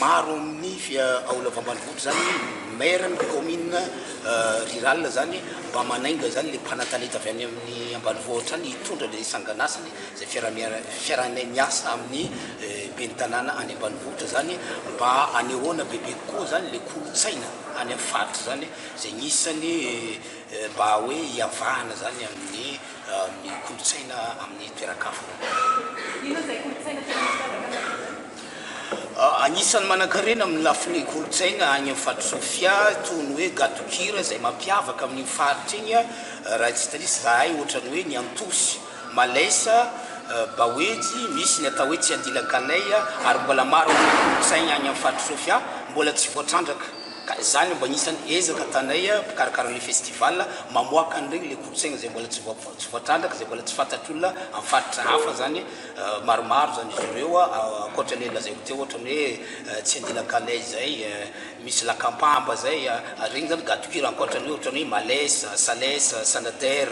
Maro amin'ny aula ambanivohitra zany maire ny commune rurale zany mba manainga zany le mpanatalenta avy any amin'ny ambanivohitra any hitondra le sanganasany zay fiaraha miasa amin'ny ben'ny tanàna any ambanivohitra zany mba anehoana bebe kokoa zany le kolotsaina any amin'ny faritra zany zay gn'isany mba hoe hiavahana zany amin'ny kolotsaina amin'ny toeran-kafa zany. Inona zay kolotsaina tian'ny mpiavaka anareo zay? Anisan'ny manankarena amin'ny lafiny kolontsaina any amin'ny Faritra Sofia itony hoe gadon-kira izay mampiavaka amin'iny faritra iny, raha tsy diso izahay, ohatran'ny hoe ny antosy, malaisa, baoejy, misy ny atao hoe tsiandilan-kalay ary mbola maro amin'ny kolontsaina any amin'ny Faritra Sofia mbola tsy voatrandraka ka izany mba anisan'ny ezaka ataonay mpikarakara ilay festival mamoaka an'ireny ilay kolontsaina izay mbola tsy voatrandraka izay mbola tsy fantatr'olona amin'ny faritra hafa izany Maromaro izany izy ireo, ankoatra ilay lazaiko teo ohatra ny hoe tsy andilaka anay izay, misy lakampampa izay, ary ireny izany gadon-kira ankoatra ny hoe ohatra ny hoe Males, Sales, Sanader,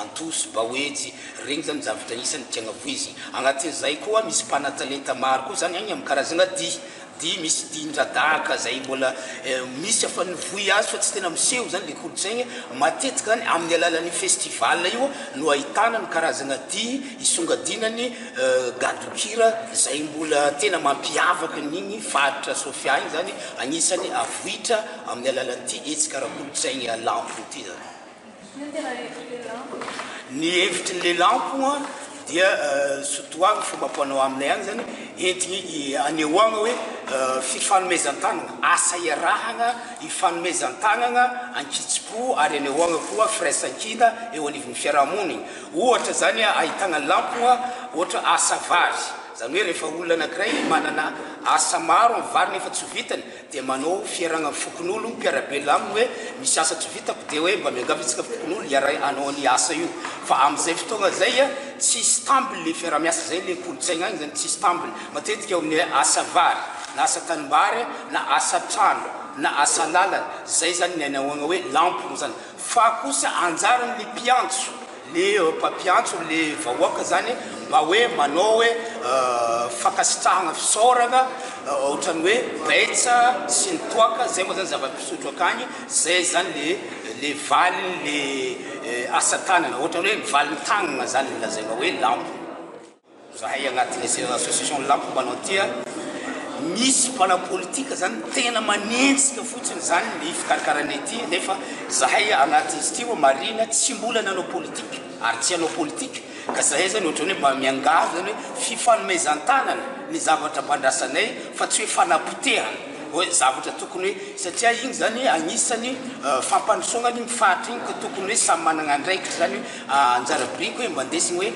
Antosy, Baoejy, ireny izany zavatra isan'ny tiana voizina. Anatin'izay koa misy mpanatalenta maro koa izany any amin'ny karazana dihy. Dia misy dihin-dradaka izay mbola misy afa ny vohy azy fa tsy tena miseho izany ilay kolontsaina. Matetika izany amin'ny alalan'io festival io no ahitana ny karazana dihy hisongadiana ny gadon-kira izay mbola tena mampiavaka an'iny faritra Sofia iny izany. Anisan'ny avoitra amin'ny alalan'ity hetsika ara-kolontsaina lambo ity izany. Ny hevitry ny lelampo dia sotoavina, fomba fanao aminay any izany, entina hanehoana hoe fifanomezan-tanana, asa iarahana ifanomezan-tanana an-kitsim-po ary hanehoana koa firaisankina eo anivon'ny fiarahamonina. Ohatra izany ahitana lampo ohatra asa vary, izany hoe rehefa olona anankiray manana asa maro amin'ny vary nefa tsy ho vitany, dia manao fiarahana fokonolon mpiarabelona aminy hoe misy asa tsy vitako dia hoe mba miangavy antsika fokonolona hiaraha hanao an'io asa io fa amin'izay fotoagna izay a tsy stable le fiarahamiasa zay le kolotsaigna agny zany tsy stable matetika eo amin'ny hoe asa vary na asa tanimbary na asa trano na asa lalana zay zany ny anahoagna hoe lampogno zany fa kosa anjaran ny mpiantso le mpampiantso le vahoaka zany mba hoe manao hoe fankasitrahana fisaorana otrany hoe betsa sy ny toaka zay moa zany zava-pisotro akany zay zany le le valiny le asa tanana otrany hoe valin tagnana zany lazaina hoe lambo Zahay agnatin'ny Sera Association Lampo mpanao tia misy mpanao politika zany tena manenjika fotsiny zany ny fikarkaranay ty nefa zahay agnatin'izy ty oa marina tsy mbola nanao politika ary tsy hanao politika ka zahay zany ohatrany oe mba miangavy zany oe fifanomezantanana ny zavatra mba andrasanay fa tsy oe fanapotehana oe zavatra tokony oe satria igny zany agnisany fampandrosoagna ny faritra igny ka tokony oe samy managna andraikitry zany oe anjara biriko oe mba ndesigny oe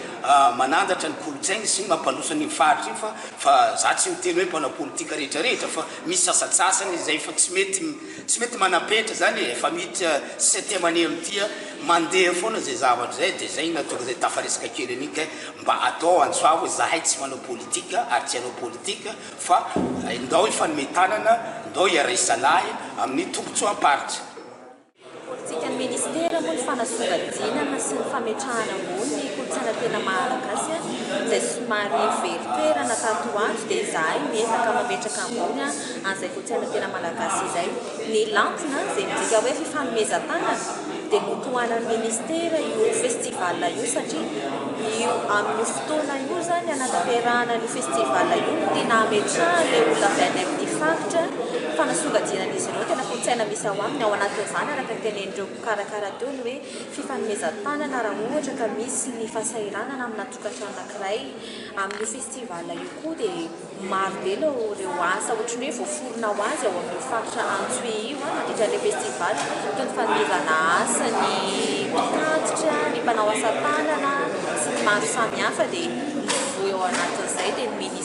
manandratra ny kolontsainy sy mampandroso an'io faritra io fa fa za tsy miteny hoe mpanao politika rehetra rehetra fa misy sasatsasany izay efa tsy mety tsy mety manam-petra zany e efa miditra sisy aty aman'ia amin'tia mandeha foana izay zavatra izay de zay na tonga izay tafaresaka kely an'io kay mba atao antsoavo hoe zahay tsy manao politika ary tsy hanao politika fa ndao hifanome tanana ndao hiara-hisalahy amin'ny tombotsoam-paritra. Politikan'ny Ministera moa ny fanasongadinana sy ny fametrahana ambony ny kolontsaina tena maha-Malagasy izay somary very toerana tato ho ato dia izahay miezaka mametraka ambony an'izay kolontsaina tena Malagasy izay. Ny Lantina izay midika hoe fifanomezan-tanana dia notohanan'ny Ministera io Festival io satria io amin'io fotoana io izany hanatanterahana an'io Festival io no tena hametrahan'ilay olona avy any amin'ny faritra fanasongadinan'izy ireo tena kolontsaina misy Izao aminy, ao anatin'izany, araka ny tenenin'ireo mpikarakara teo, ny hoe fifanomezan-tanana raha ohatra ka misy ny fahasahiranana amina tokantrano anankiray. Amin'io festival io koa dia maro be ilay ireo asa ohatry ny hoe voaforona ho azy ao amin'io faritra Antsohihy io mandritra ilay festival, toy ny fanomezana asa ny mpitatitra, ny mpanao asa tanana sy ny maro samihafa dia mivoy ao anatin'izay dia ny ministra.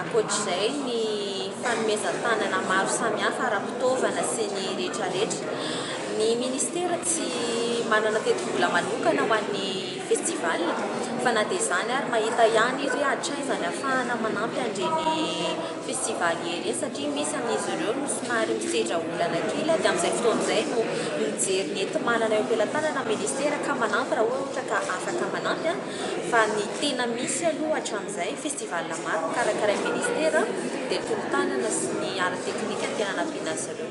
Ankoatra izay, ny fanomezan-tanana maro samihafa ara-pitaovana sy ny rehetrarehetra. Ny Ministera tsy manana tetibola manokana ho an'ny Festival fa na dia izany ary mahita ihany izy hoe hatraiza ny ahafahana manampy an'ireny Festival ireny satria misy amin'izy ireo no somary misedra olana kely dia amin'izay fotoana izay no mijery ny enti-manana eo am-pelatanana ny Ministera ka manampy raha ohatra ka afaka manampy. Fa ny tena misy aloha hatramin'izay, festival maro nokarakarain'ny Ministera dia tolo-tanana sy ny ara-teknika no tena nampiana azy ireo.